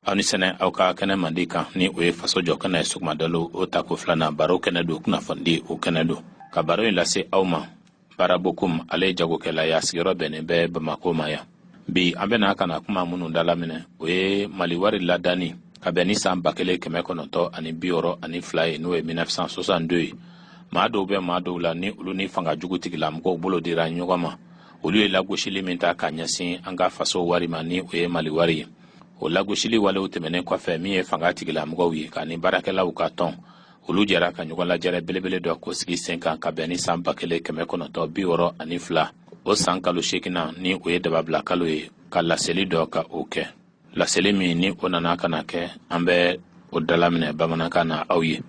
aw ni sɛnɛ aw ka kɛnɛ mandi kan ni o ye faso jɔ kɛnɛ ye sugumadalo o tako filanan baro kɛnɛ don kunnafoni o kɛnɛ don ka baro in lase aw ma Bara Bokum ale ye jagokɛla y'a sigiyɔrɔ bɛnnen bɛ bamako ma yan bi an bɛna ka na kuma minnu dalaminɛ o ye mali wari ladanni ka bɛn ni san ba kelen kɛmɛ kɔnɔntɔn ani bi wɔɔrɔ ani fila ye n'o ye 1962 ye maa dɔw bɛ maa dɔw la ni olu ni fanga jugu tigilamɔgɔw bolo dira ɲɔgɔn ma olu ye lagosili min ta ka ɲɛsin an ka faso wari ma ni o ye mali wari ye o lagosili walew tɛmɛnen kɔfɛ min ye fanga tigilamɔgɔw ye ka ni baarakɛlaw ka tɔn olu jɛra ka ɲɔgɔn lajɛrɛ belebele dɔ k'o sigi sen kan ka bɛn ni san ba kelen kɛmɛ kɔnɔntɔn bi wɔɔrɔ ani fila o san kalo seeginan ni o ye dababila kalo ye ka laseli dɔ ka o kɛ laseli min ni o nana ka na kɛ an bɛ o dalaminɛ bamanankan na aw ye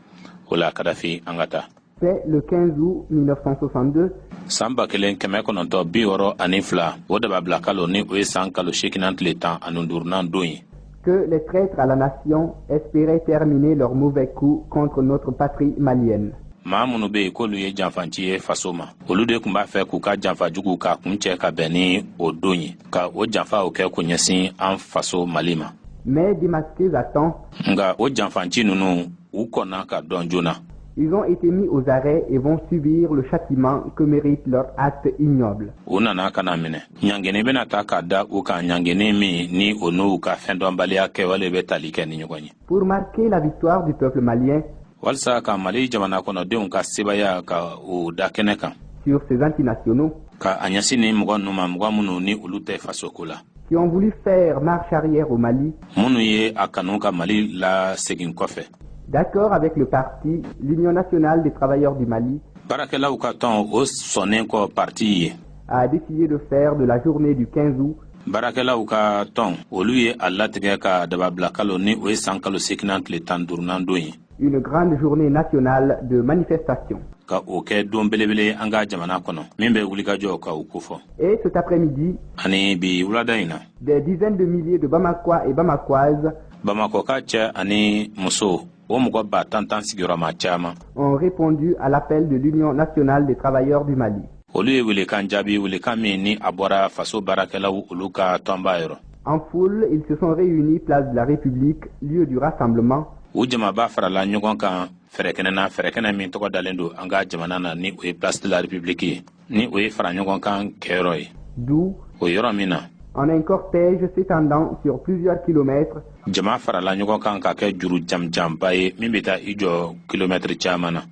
o la kadafi an ka taa C'est le 15 août 1962. San ba kelen kɛmɛ kɔnɔntɔn bi wɔɔrɔ ani fila o dababila kalo ni o ye san kalo seekinan tile tan ani duurunan don ye que les traîtres à la nation espéraient terminer leur mauvais coup contre notre patrie malienne. maa minnu bɛ yen k'olu ye janfanci ye faso ma olu de kun b'a fɛ k'u ka janfa jugu k'a kuncɛ ka bɛn ni o don ye ka o janfa o kɛ k'o ɲɛsin an faso mali ma mais démasqués à temps nka o janfanci ninnu u kɔnna ka dɔn joona Ils ont été mis aux arrêts et vont subir le châtiment que mérite leur acte ignoble. U nana ka na minɛ. Ɲangeni bɛna ta ka da u kan ɲangeni min ni o n'u ka fɛndɔnbaliya kɛwale bɛ tali kɛ ni ɲɔgɔn ye. Pour marquer la victoire du peuple malien, walisa ka Mali jamana kɔnɔdenw ka sebaaya ka o da kɛnɛ kan sur ces antinationaux, ka a ɲɛsin nin mɔgɔ ninnu ma mɔgɔ minnu ni olu tɛ fasoko la. qui ont voulu faire marche arrière au Mali, minnu ye a kanu ka Mali lasegin kɔfɛ d'accord avec le parti l'Union nationale des travailleurs du Mali, baarakɛlaw ka tɔn o sɔnnen kɔ parti ye a décidé de faire de la journée du 15 août baarakɛlaw ka tɔn olu ye a latigɛ ka dababilakalo ni o ye san kalo seekinan tile tan duurunan don ye une grande journée nationale de manifestation. ka o kɛ don belebele an ka jamana kɔnɔ min bɛ wulikajɔ ka o kofɔ et cet après-midi ani bi wulada in na des dizaines de milliers de bamakois et bamakoises bamakoka cɛ ani muso o mɔgɔ ba tan tan sigiyɔrɔma caman ont répondu à l'appel de l'union nationale des travailleurs du mali olu ye welekan jaabi welekan min ni a bɔra faso baarakɛlaw olu ka tɔnba yɔrɔ en foule ils se sont réunis place de la république lieu du rassemblement u jamaba farala ɲɔgɔn kan fɛɛrɛkɛnɛ na fɛɛrɛkɛnɛ min tɔgɔ dalen don an ka jamana na ni o ye place de la république ye ni o ye fara ɲɔgɔn kan kɛyɔrɔ ye d'où o yɔrɔ min na en un cortège s'étendant sur plusieurs kilomètres. Jama farala ɲɔgɔn kan ka kɛ juru jamjanba ye min bɛ taa i jɔ kilomɛtiri caman na.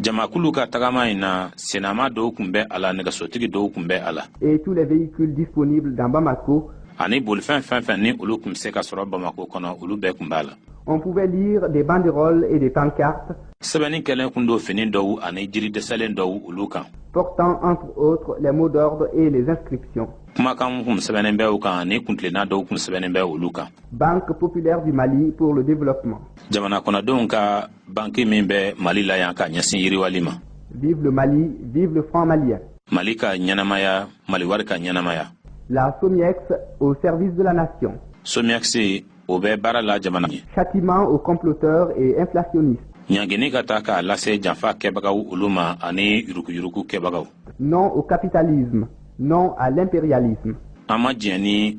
jamakulu ka tagama in na senama dɔw tun bɛ a la nɛgɛsotigi dɔw tun bɛ a la ani bolifɛn fɛn fɛn ni olu tun se ka sɔrɔ bamako kɔnɔ olu bɛɛ tun b'a la sɛbɛnni kɛlen tun don fini dɔw ani jiri dɛsɛlen dɔw olu kan kumakan kun sɛbɛnnen bɛ u kan ani kuntilenna dɔw kun sɛbɛnnen bɛ olu kan jamana kɔnɔdenw ka banki min bɛ mali la yan ka ɲɛsin yiriwali ma vive le mali vive le franc malien mali ka ɲɛnamaya mali wari ka ɲɛnamaya la somiex au service de la nation somiex o bɛ baara la jamana ye châtiment aux comploteurs et inflationnistes ɲangini ka taa k'a lase janfa kɛbagaw olu ma ani yuruguyurugu kɛbagaw non au capitalisme non à l'impérialisme an ma diɲɛ ni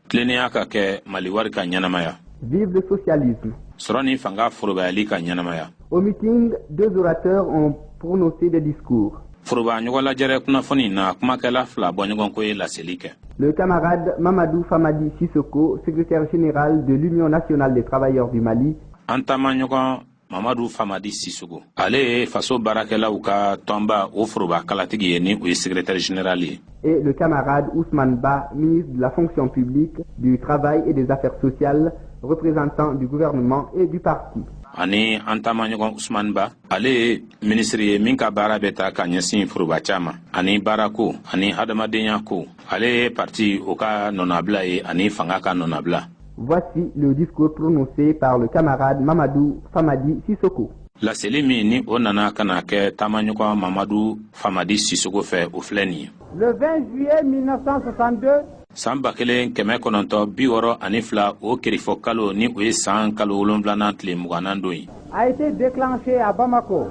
tilennenya ka kɛ mali wari ka ɲɛnamaya vive le socialisme sɔrɔ ni fanga forobayali ka ɲɛnamaya au meeting deux orateurs ont prononcé des discours foroba ɲɔgɔn lajɛrɛ kunnafoni na kumakɛla fila bɔɲɔgɔnko ye laseli kɛ Le camarade Mamadou Famadi Sissoko, secrétaire général de l'Union nationale des travailleurs du Mali, an taamaɲɔgɔn mamadu famadi sisogo ale ye faso baarakɛlaw ka tɔnba o foroba kalatigi ye ni o ye secrétaire général ye et le camarade Ousmane Ba, ministre de la fonction publique, du travail et des affaires sociales, représentant du gouvernement et du parti. ani an taamaɲɔgɔn usman ba ale ye minisiri ye min ka baara bɛ taa ka ɲɛsin foroba ca ma ani baarako ani hadamadenya ko ale ye parti o ka nɔnabila ye ani fanga ka nɔnabila Voici le discours prononcé par le camarade Mamadou Famadi Sissoko. Laseli min ni o nana ka na kɛ taamaɲɔgɔn Mamadu Famadi Sissoko fɛ o filɛ nin ye. Le 20 juillet 1962. San ba kelen kɛmɛ kɔnɔntɔ bi wɔɔrɔ ani fila o kerifɔ kalo ni o ye san kalo wolonfilanan tile mugannan don ye. A été déclenché à Bamako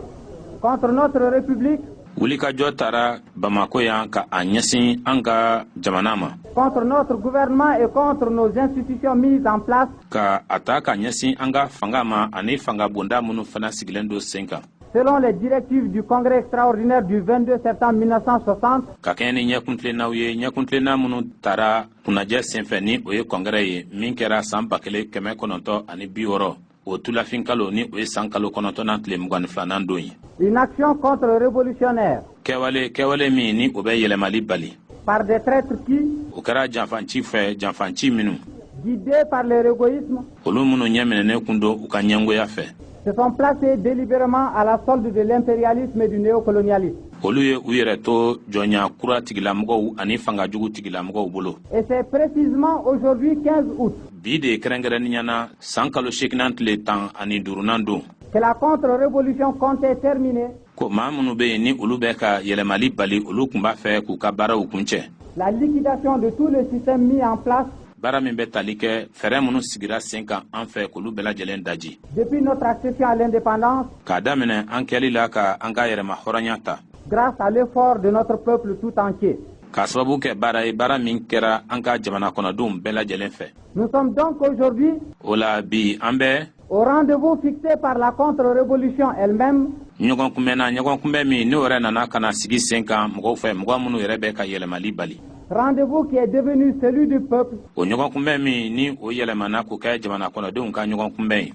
contre notre république wulikajɔ tara bamako yan ka a ɲɛsin an ka jamana ma contre notre gouvernement et contre nos institutions mises en place ka a ta ka ɲɛsin an ka fanga ma ani fanga bonda minnu fana sigilen don sen kan selon les directives du congrès extraordinaire du 22 septembre 1960 ka kɛɲɛ ni ɲɛkuntilennaw ye ɲɛkuntilenna minnu tara kunnajɛ senfɛ ni o ye kɔngrɛ ye min kɛra san ba kelen kɛmɛ kɔnɔntɔ ani bi wɔɔrɔ o tulafin kalo ni o ye san kalo kɔnɔntɔnnan tile mugan ni filanan don ye une action contre révolutionnaire kɛwale kɛwale min ni o bɛ yɛlɛmali bali par des traîtres qui o kɛra janfanci fɛ janfanci minnu guidés par leur égoïsme olu minnu ɲɛminɛnen kun don u ka ɲɛngoya fɛ se sont placés délibérément à la solde de l'impérialisme et du néocolonialisme olu ye u yɛrɛ to jɔnya kura tigilamɔgɔw ani fanga jugu tigilamɔgɔw bolo et c'est précisément aujourd'hui 15 août bi de kɛrɛnkɛrɛnnenya na san kalo seeginan tile tan ani duurunan don que la contre-révolution comptait terminer. Ko maa minnu bɛ yen ni olu bɛ ka yɛlɛmali bali olu kun b'a fɛ k'u ka baaraw kuncɛ. La liquidation de tous les systèmes mis en place baara min bɛ tali kɛ fɛɛrɛ minnu sigira sen kan an fɛ k'olu bɛɛ lajɛlen daji depuis notre accession à l'indépendance k'a daminɛ an kɛli la ka an ka yɛrɛma hɔrɔnya ta grâce à l'effort de notre peuple tout entier k'a sababu kɛ baara ye baara min kɛra an ka jamana kɔnɔdenw bɛɛ lajɛlen fɛ Nous sommes donc aujourd'hui o la bi an bɛ au rendez-vous fixé par la contre-révolution elle-même ɲɔgɔn kunbɛn na ɲɔgɔn kunbɛn min n'o yɛrɛ nana ka na sigi sen kan mɔgɔw fɛ mɔgɔ minnu yɛrɛ bɛ ka yɛlɛmali bali rendez-vous qui est devenu celui du peuple o ɲɔgɔn kunbɛn min ni o yɛlɛmana k'o kɛ jamana kɔnɔdenw ka ɲɔgɔn kunbɛn ye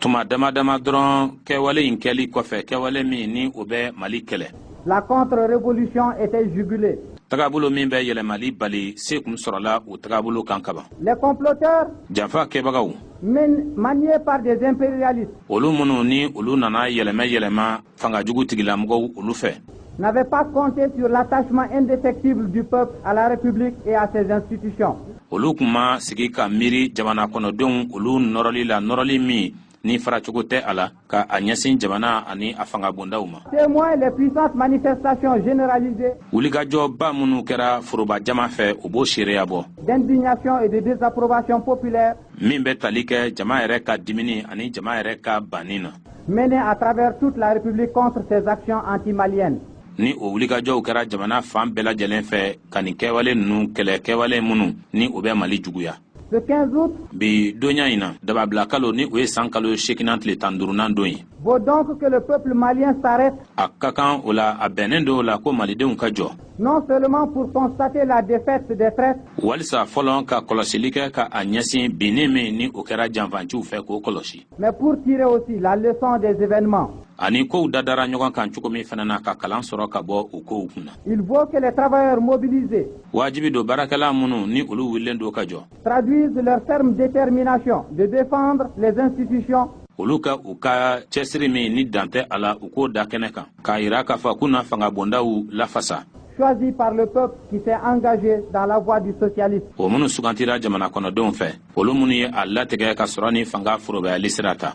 tuma dama dama dɔrɔn kɛwale in kɛli kɔfɛ kɛwale min ni o bɛ mali kɛlɛ la contre-révolution était jugulée tagabolo min bɛ yɛlɛmali bali se kun sɔrɔla o tagabolo kan kaban les comploteurs janfa kɛbagaw maniés par des impérialistes olu minnu ni olu nana yɛlɛmɛ yɛlɛma fanga jugu tigilamɔgɔw olu fɛ n'avaient pas compté sur l'attachement indéfectible du peuple à la République et à ses institutions. olu kun ma sigi ka miiri jamana kɔnɔdenw olu nɔrɔli la nɔrɔli min ni faracogo tɛ a la ka a ɲɛsin jamana ani a fangabondaw ma témoin les puissantes manifestations généralisées wulikajɔba minnu kɛra foroba jama fɛ o b'o seereya bɔ d'indignation et de désapprobation populaire min bɛ tali kɛ jama yɛrɛ ka dimini ani jama yɛrɛ ka banni na menées à travers toute la République contre ces actions anti-maliennes. ni o wulikajɔw kɛra jamana fan bɛɛ lajɛlen fɛ ka nin kɛwale ninnu kɛlɛ kɛwale minnu ni o bɛ mali juguya Le 15 août, bi donya in na dababila kalo ni o ye san kalo seekinan tile tan duurunan don ye vaut donc que le peuple malien s'arrête a ka kan o la a bɛnnen don o la ko malidenw ka jɔ non seulement pour constater la défaite des traîtres, walisa fɔlɔ ka kɔlɔsili kɛ ka a ɲɛsin binni min ni o kɛra janfanciw fɛ k'o kɔlɔsi Mais pour tirer aussi la leçon des événements. Ani kow dadara ɲɔgɔn kan cogo min fana na ka kalan sɔrɔ ka bɔ o kow kunna. Il vaut que les travailleurs mobilisés. Wajibi don baarakɛla minnu ni olu wulilen don ka jɔ. Traduisent leur ferme détermination de défendre les institutions olu ka u ka cɛsiri min ni dan tɛ a la u k'o da kɛnɛ kan k'a yira k'a fɔ k'u na fanga bondaw lafasa choisies par le peuple qui s'est engagé dans la voie du socialisme o minnu sugantira jamana kɔnɔdenw fɛ olu minnu ye a latigɛ ka sɔrɔ ni fanga forobayali sira ta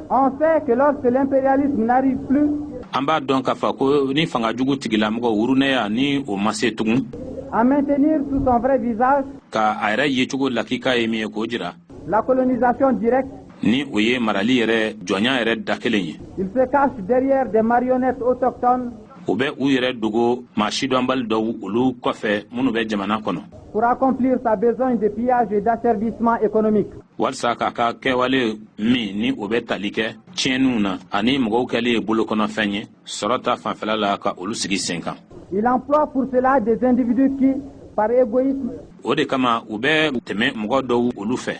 On sait que lorsque l'impérialisme n'arrive plus, an b'a dɔn k'a fɔ ko ni fanga jugu tigilamɔgɔ wurunɛya ni o ma se tugun à maintenir sous son vrai visage ka a yɛrɛ yecogo lakika ye min ye k'o jira la colonisation directe, ni o ye marali yɛrɛ jɔnya yɛrɛ da kelen ye il se cache derrière des marionnettes autochtones u bɛ u yɛrɛ dogo maa sidɔnbali dɔw olu kɔfɛ minnu bɛ jamana kɔnɔ pour accomplir sa besogne de pillage et d'asservissement économique. walisa k'a ka kɛwale min ni o bɛ tali kɛ tiɲɛniw na ani mɔgɔw kɛli ye bolokɔnɔfɛn ye sɔrɔ ta fanfɛla la ka olu sigi sen kan. il emploie pour cela des individus qui par égoïsme. o de kama u bɛ tɛmɛ mɔgɔ dɔw olu fɛ.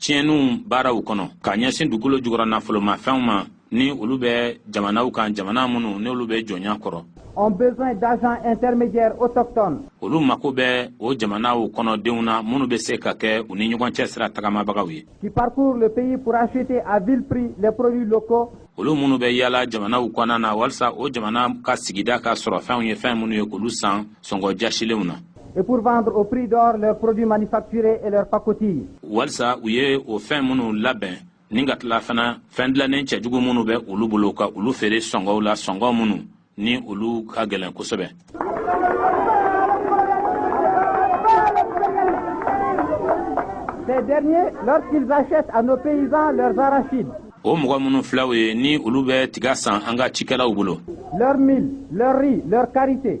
tiɲɛniw baaraw kɔnɔ ka ɲɛsin dugukolo jukɔrɔ nafolomafɛnw ma ni olu bɛ jamanaw kan jamana minnu n'olu bɛ jɔnya kɔrɔ ont besoin d'agents intermédiaires autochtones. olu mako bɛ o jamanaw kɔnɔdenw na minnu bɛ se ka kɛ u ni ɲɔgɔn cɛ sira tagamabagaw ye. qui parcourent le pays pour acheter à vil prix les produits locaux. olu minnu bɛ yaala jamanaw kɔnɔna na walisa o jamana ka sigida ka sɔrɔfɛnw ye fɛn minnu ye k'olu san sɔngɔ jasilenw na. et pour vendre au prix d'or leurs produits manufacturés et leurs pacotilles. walisa u ye o fɛn minnu labɛn ni ka tila fana fɛn dilannen cɛjugu minnu bɛ olu bolo ka olu feere sɔngɔw la sɔngɔ minnu ni olu ka gɛlɛn kosɛbɛ. Ces derniers, lorsqu'ils achètent à nos paysans leurs arachides, o mɔgɔ minnu filɛ u ye ni olu bɛ tiga san an ka cikɛlaw bolo. leur mil leur riz leur karité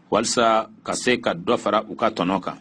walisa ka se ka dɔ fara u ka tɔnɔ kan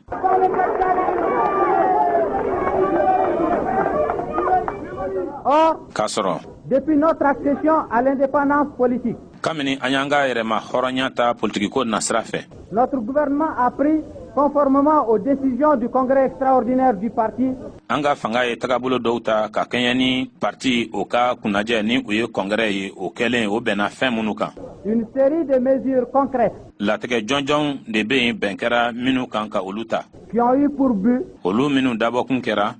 or k'a sɔrɔ depuis notre accession à l'indépendance politique kabini an y'an ka yɛrɛma hɔrɔnya ta politikiko nasira fɛ notre gouvernement a pris conformément aux décisions du congrès extraordinaire du parti an ka fanga ye tagabolo dɔw ta ka kɛɲɛ ni parti o ka kunnajɛ ni o ye kɔngɛrɛ ye o kɛlen o bɛnna fɛn minnu kan une série de mesures concrètes latigɛ jɔnjɔnw de bɛ yen bɛn kɛra minnu kan ka olu ta qui ont eu pour but olu minnu dabɔkun kɛra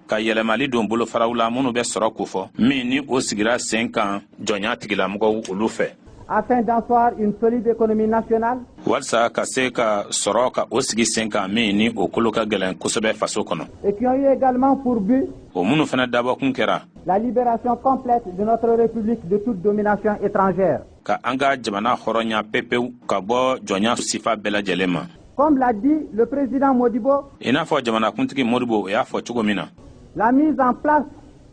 ka yɛlɛmali don bolofaraw la minnu bɛ sɔrɔ kofɔ min ni o sigira sen kan jɔnya tigilamɔgɔw olu fɛ afin d'asseoir une solide économie nationale walisa ka se ka sɔrɔ ka o sigi sen kan min ni o kolo ka gɛlɛn kosɛbɛ faso kɔnɔ et qui ont eu également pour but o minnu fana dabɔkun kɛra la libération complète de notre république de toute domination étrangère ka an ka jamana hɔrɔnya pepewu ka bɔ jɔnya sifa bɛɛ lajɛlen ma comme l'a dit le président modibo i n'a fɔ jamanakuntigi modibo o y'a fɔ cogo min na la mise en place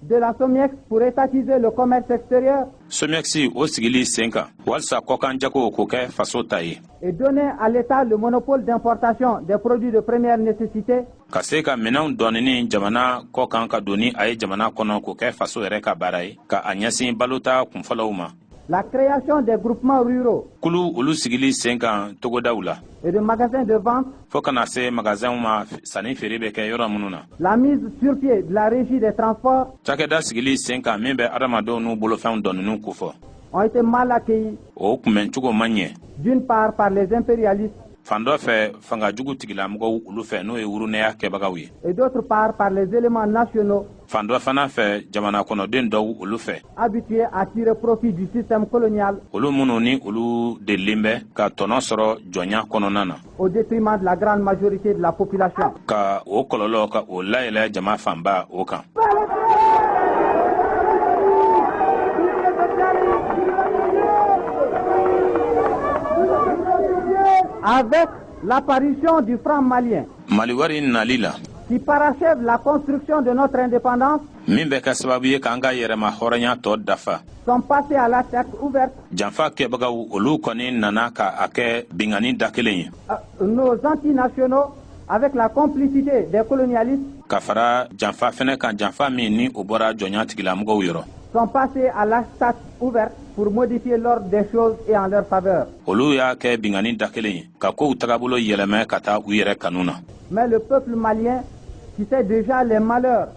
de la somiex pour étatiser le commerce extérieur somiex o sigili sen kan walisa kɔkan jago k'o kɛ faso ta ye et donner à l'état le monopole d'importation des produits de première nécessité ka se ka minɛnw dɔw ɲini jamana kɔkan ka don ni a ye jamana kɔnɔ k'o kɛ faso yɛrɛ ka baara ye ka a ɲɛsin balota kunfɔlɔw ma La création des groupements ruraux. Kulu olu sigili sen kan togodaw la. Et de magasins de vente. Fo ka na se magasinw ma sanni feere bɛ kɛ yɔrɔ minnu na. La mise sur pied de la régie des transports. Cakɛda sigili sen kan min bɛ adamadenw n'u bolofɛnw doniniw kofɔ. Ont été mal accueillis. O kunbɛn cogo ma ɲɛ. D'une part par les impérialistes. Fan dɔ fɛ fanga jugu tigilamɔgɔw olu fɛ n'o ye wurunɛya kɛbagaw ye. Et d'autre part par les éléments nationaux. fan dɔ fana fɛ jamana kɔnɔden dɔw olu fɛ habitués à tirer profit du système colonial olu minnu ni olu delilen bɛ ka tɔnɔ sɔrɔ jɔnya kɔnɔna na au détriment de la grande majorité de la population ka o kɔlɔlɔ ka o layɛlɛ jama fanba o kan avec l'apparition du franc malien Mali wari nali la qui parachève la construction de notre indépendance min bɛ kɛ sababu ye k'an ka yɛrɛma hɔrɔnya tɔ dafa sont passés à l'attaque ouverte janfa kɛbagaw olu kɔni nana ka a kɛ binkanni da kelen ye euh, nos antinationaux avec la complicité des colonialistes ka fara janfa fɛnɛ kan janfa min ni o bɔra jɔnya tigilamɔgɔw yɔrɔ sont passés à l'attaque ouverte pour modifier l'ordre des choses et en leur faveur. Olu y'a kɛ binkanni da kelen ye ka kow tagabolo yɛlɛmɛ ka taa u yɛrɛ kanu na. Mais le peuple malien qui sait déjà les malheurs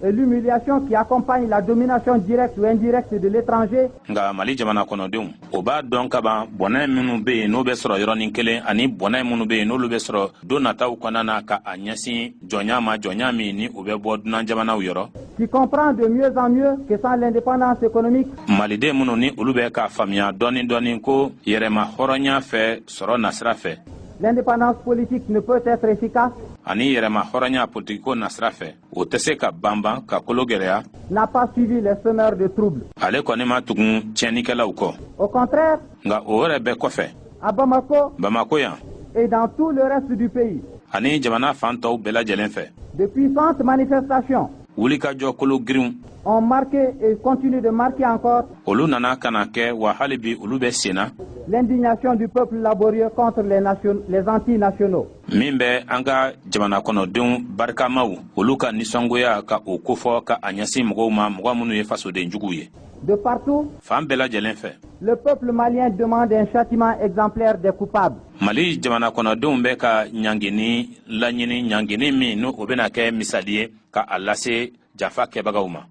et l'humiliation qui accompagnent la domination directe ou indirecte de l'étranger. Nka Mali jamana kɔnɔdenw, o b'a dɔn ka ban bɔnɛ minnu bɛ yen n'o bɛ sɔrɔ yɔrɔnin kelen ani bɔnɛ minnu bɛ yen n'olu bɛ sɔrɔ don nataw kɔnɔna na ka a ɲɛsin jɔnya ma jɔnya min ni o bɛ bɔ dunan jamanaw yɔrɔ qui comprend de mieux en mieux que sans l'indépendance économique maliden minnu ni olu bɛ k'a faamuya dɔɔni dɔɔni ko yɛrɛma hɔrɔnya fɛn sɔrɔ nasira fɛ l'indépendance politique ne peut être efficace ani yɛrɛma hɔrɔnya politikiko nasira fɛ o tɛ se ka banban ka kolo gɛlɛya n'a pas suivi les semeurs de troubles ale kɔni ma tugun tiɲɛnikɛlaw kɔ au contraire nka o yɛrɛ bɛɛ kɔfɛ à bamako bamako yan et dans tout le reste du pays ani jamana fan tɔw bɛɛ lajɛlen fɛ de puissantes manifestations wulikajɔ kolo girinw ont marqué et continuent de marquer encore olu nana ka na kɛ wa hali bi olu bɛ sen na l'indignation du peuple laborieux contre les, nation, les antinationaux min bɛ an ka jamana kɔnɔdenw barikamaw olu ka nisɔngoya ka o kofɔ ka a ɲɛsin mɔgɔw ma mɔgɔ minnu ye fasoden juguw ye de partout fan bɛɛ lajɛlen fɛ le peuple malien demande un châtiment exemplaire des coupables mali jamana kɔnɔdenw bɛ ka ɲangini laɲini ɲangini min ni o bɛna kɛ misali ye ka a lase janfa kɛbagaw ma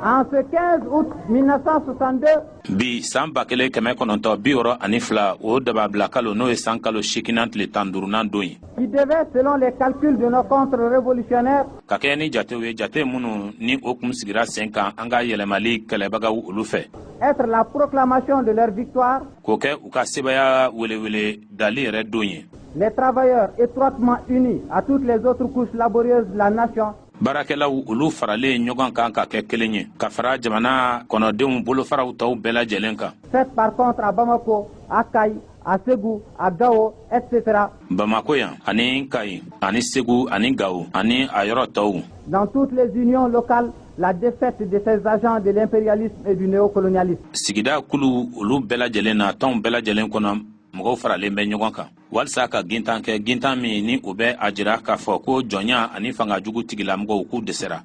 en ce 15 août 1962 bi san ba kelen kɛmɛ kɔnɔntɔn bi wɔɔrɔ ani fila o dababila kalo n'o ye san kalo seeginnan tile tan duurunan don ye qui devait selon les calculs de nos contre-révolutionnaires ka kɛɲɛ ni jatew ye jate minnu ni o kun sigira sen kan an ka yɛlɛmali kɛlɛbagaw olu fɛ être la proclamation de leur victoire k'o kɛ u ka sebaya welewele dali yɛrɛ don ye les travailleurs étroitement unis à toutes les autres couches laborieuses de la nation baarakɛlaw olu faralen ɲɔgɔn kan ka kɛ kelen ye ka fara jamana kɔnɔdenw bolofaraw tɔw bɛɛ lajɛlen kan fêtent par contre à Bamako, à Kayes, à Ségou, à Gao, etc. bamako yan ani kayi ani segu ani gawo ani a yɔrɔ tɔw Dans toutes les unions locales, la défaite de ces agents de l'impérialisme et du néocolonialisme. sigida kulu olu bɛɛ lajɛlen na tɔnw bɛɛ lajɛlen kɔnɔ mɔgɔw faralen bɛ ɲɔgɔn kan walisa ka gintan kɛ gintan min ni o bɛ a jira k'a fɔ ko jɔnya ani fanga jugu tigilamɔgɔw k'u dɛsɛra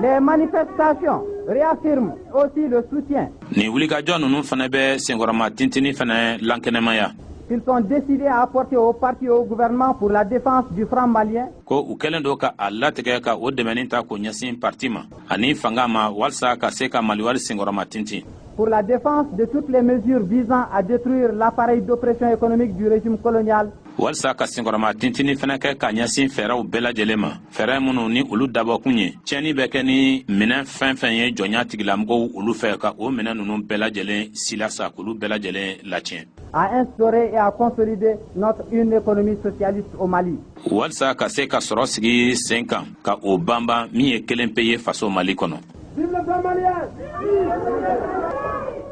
Les manifestations réaffirment aussi le soutien. Nin wulikajɔ ninnu fana bɛ senkɔrɔma tintini fana lankɛnɛmaya. Qu'ils sont décidés à apporter au parti et au gouvernement pour la défense du franc malien. Ko u kɛlen don ka a latigɛ ka o dɛmɛni ta k'o ɲɛsin parti ma. ani fanga ma walisa ka se ka maliwari senkɔrɔma tintin pour la défense de toutes les mesures visant à détruire l'appareil d'oppression économique du régime colonial walisa ka senkɔrɔma tintini fana kɛ ka ɲɛsin fɛɛrɛw bɛɛ lajɛlen ma fɛɛrɛ minnu ni olu dabɔkun ye tiɲɛni bɛ kɛ ni minɛn fɛn fɛn ye jɔnya tigilamɔgɔw olu fɛ ka o minɛn ninnu bɛɛ lajɛlen silasa k'olu bɛɛ lajɛlen latiɲɛ à instaurer et à consolider notre une économie socialiste au Mali. walisa ka se ka sɔrɔ sigi sen kan ka o banban min ye kelen pe ye faso mali kɔnɔ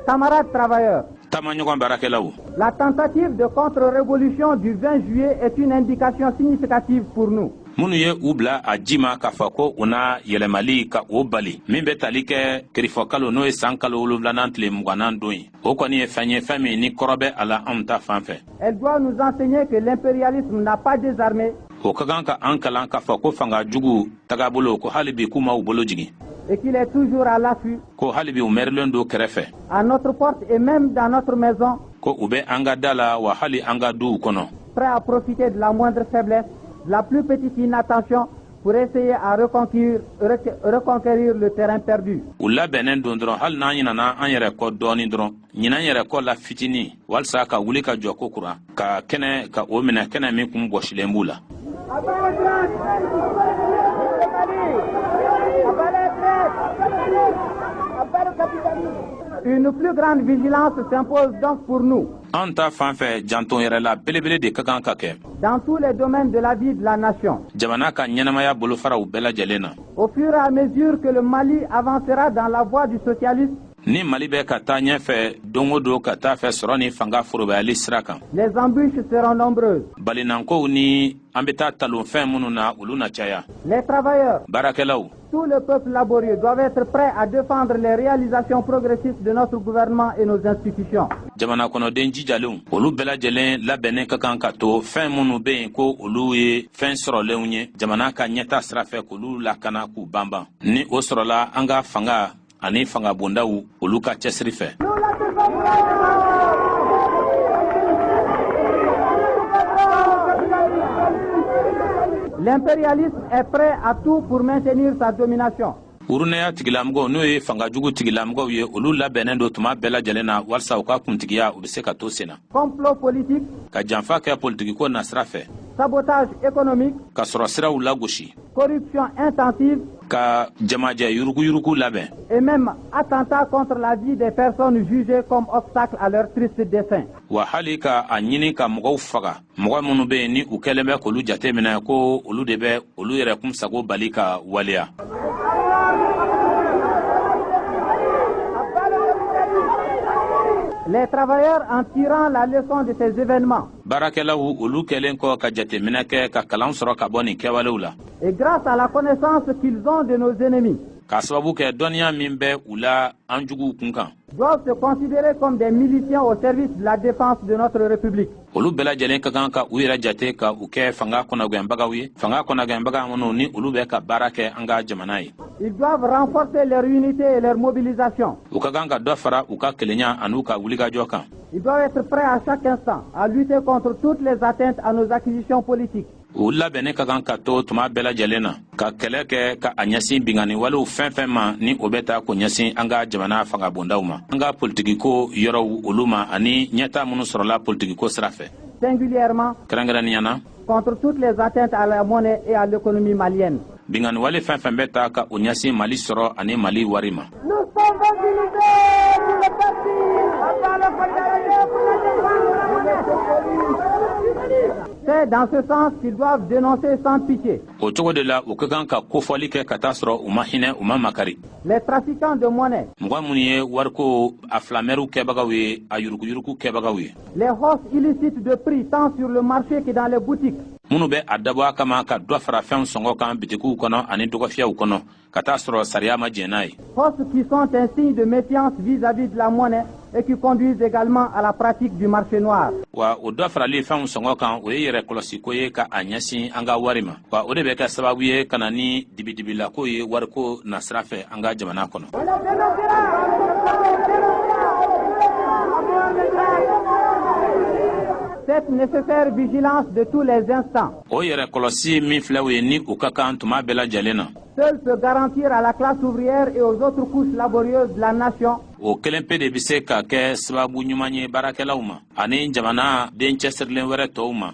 camarades travailleurs taamaɲɔgɔn baarakɛlaw la tentative de contre-révolution du 20 juillet est une indication significative pour nous minnu ye u bila a ji ma k'a fɔ ko u na yɛlɛmali ka o bali min bɛ tali kɛ kerifɔkalo n'o ye san kalo wolonwulanan tile mugannan don ye o kɔni ye fɛn ye fɛn min ni kɔrɔ bɛ a la anw ta fan fɛ Elle doit nous enseigner que l'impérialisme n'a pas désarmé o ka kan ka an kalan k'a fɔ ko fanga jugu tagabolo ko hali bi k'u ma u bolo jigin et qu'il est toujours à l'affût ko hali bi u mɛrilen don kɛrɛfɛ à notre porte et même dans notre maison ko u bɛ an ka da la wa hali an ka duw kɔnɔ prêt à profiter de la moindre faiblesse de la plus petite inattention pour essayer à reconquérir, reconquérir le terrain perdu. U labɛnnen don dɔrɔn hali n'an ɲinana an yɛrɛ kɔ dɔɔni dɔrɔn ɲinan yɛrɛ kɔ la fitinin walisa ka wuli ka jɔ kokura ka kɛnɛ ka o minɛ kɛnɛ min kun bɔsilen b'u la. Une plus grande vigilance s'impose donc pour nous. An ta fan fɛ janto yɛrɛ la belebele de ka kan ka kɛ. dans tous les domaines de la vie de la nation. Jamana ka ɲɛnamaya bolofaraw bɛɛ lajɛlen na. Au fur et à mesure que le Mali avancera dans la voie du socialisme, ni Mali bɛ ka taa ɲɛfɛ don o don ka t'a fɛ sɔrɔ ni fanga forobayali sira kan les embûches seront nombreuses balinankow ni an bɛ taa talonfɛn minnu na olu na caya les travailleurs baarakɛlaw Tout le peuple laborieux doivent être prêts à défendre les réalisations progressistes de notre gouvernement et nos institutions. jamana kɔnɔden jijalenw olu bɛɛ lajɛlen labɛnnen ka kan ka to fɛn minnu bɛ yen ko olu ye fɛn sɔrɔlenw ye jamana ka ɲɛtaa sira fɛ k'olu lakana k'u banban ni o sɔrɔla an ka fanga ani fangabondaw olu ka cɛsiri fɛ L'impérialisme est prêt à tout pour maintenir sa domination. urunɛya tigilamɔgɔw n'o ye fanga jugu tigilamɔgɔw ye olu labɛnnen don tuma bɛɛ lajɛlen na walisa u ka kuntigiya u bɛ se ka to sen na complot politique ka janfa kɛ politikiko nasira fɛ sabotage économique ka sɔrɔ siraw lagosi corruption intensive ka jamajɛ yuruguyurugu labɛn et même attentat contre la vie des personnes jugées comme obstacle à leur triste dessein wa hali ka a ɲini ka mɔgɔw faga mɔgɔ minnu bɛ yen ni u kɛlen bɛ k'olu jate minɛ ko olu de bɛ olu yɛrɛ kun sago bali ka waleya Les travailleurs en tirant la leçon de ces événements baarakɛlaw olu kɛlen kɔ ka jateminɛ kɛ ka kalan sɔrɔ ka bɔ nin kɛwalew la et grâce à la connaissance qu'ils ont de nos ennemis k'a sababu kɛ dɔnniya min bɛ u la an juguw kun kan doivent se considérer comme des miliciens au service de la défense de notre république olu bɛɛ lajɛlen ka kan ka u yɛrɛ jate ka u kɛ fanga kɔnɔgɛnbagaw ye fanga kɔnɔgɛnbaga minnu ni olu bɛ ka baara kɛ an ka jamana ye ils doivent renforcer leur unité et leur mobilisation u ka kan ka dɔ fara u ka kelenya an'u ka wulikajɔ kan Ils doivent être prêts à chaque instant à lutter contre toutes les atteintes à nos acquisitions politiques. u labɛnnen ka kan ka to tuma bɛɛ lajɛlen na ka kɛlɛ kɛ ka a ɲɛsin binkanni walew fɛn fɛn ma ni o bɛ taa k'o ɲɛsin an ka jamana fangabondaw ma an ka politikiko yɔrɔw olu ma ani ɲɛtaa minnu sɔrɔla politikiko sira fɛ singulièrement kɛrɛnkɛrɛnnenya na contre toutes les atteintes à la monnaie et à l'économie malienne. Binkanni wale fɛn fɛn bɛ taa ka o ɲɛsin Mali sɔrɔ ani Mali wari ma. C'est dans ce sens qu'ils doivent dénoncer sans pitié. O cogo de la, u ka kan ka kofɔli kɛ ka t'a sɔrɔ u ma hinɛ, u ma makari. Les trafiquants de monnaie. Mɔgɔ minnu ye wariko a filamɛriw kɛbagaw ye, a yuruguyurugu kɛbagaw ye. Les hausses illicites de prix tant sur le marché que dans les boutiques. minnu bɛ a dabɔ a kama ka dɔ fara fɛnw sɔngɔ kan bitikiw kɔnɔ ani dɔgɔfiyɛw kɔnɔ ka t'a sɔrɔ sariya ma jɛn n'a ye. hausses qui sont un signe de méfiance vis-à-vis de la monnaie et qui conduisent également à la pratique du marché noir. wa o dɔ farali fɛnw sɔngɔ kan o ye yɛrɛ kɔlɔsiko ye ka a ɲɛsin an ka wari ma. wa o de bɛ kɛ sababu ye ka na ni dibidibilako ye wariko nasira fɛ an ka jamana kɔnɔ cette nécessaire vigilance de tous les instants. O yɛrɛ kɔlɔsi min filɛ o ye ni o ka kan tuma bɛɛ lajɛlen na. Seul peut garantir à la classe ouvrière et aux autres couches laborieuses de la nation. O kelen pe de bɛ se ka kɛ sababu ɲuman ye baarakɛlaw ma ani jamanaden cɛsirilen wɛrɛ tɔw ma.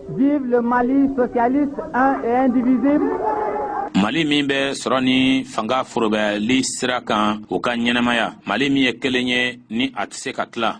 Vive le Mali socialiste un et indivisible mali min bɛ sɔrɔ ni fanga forobayali sira kan o ka ɲɛnamaya mali min ye kelen ye ni a tɛ se ka tila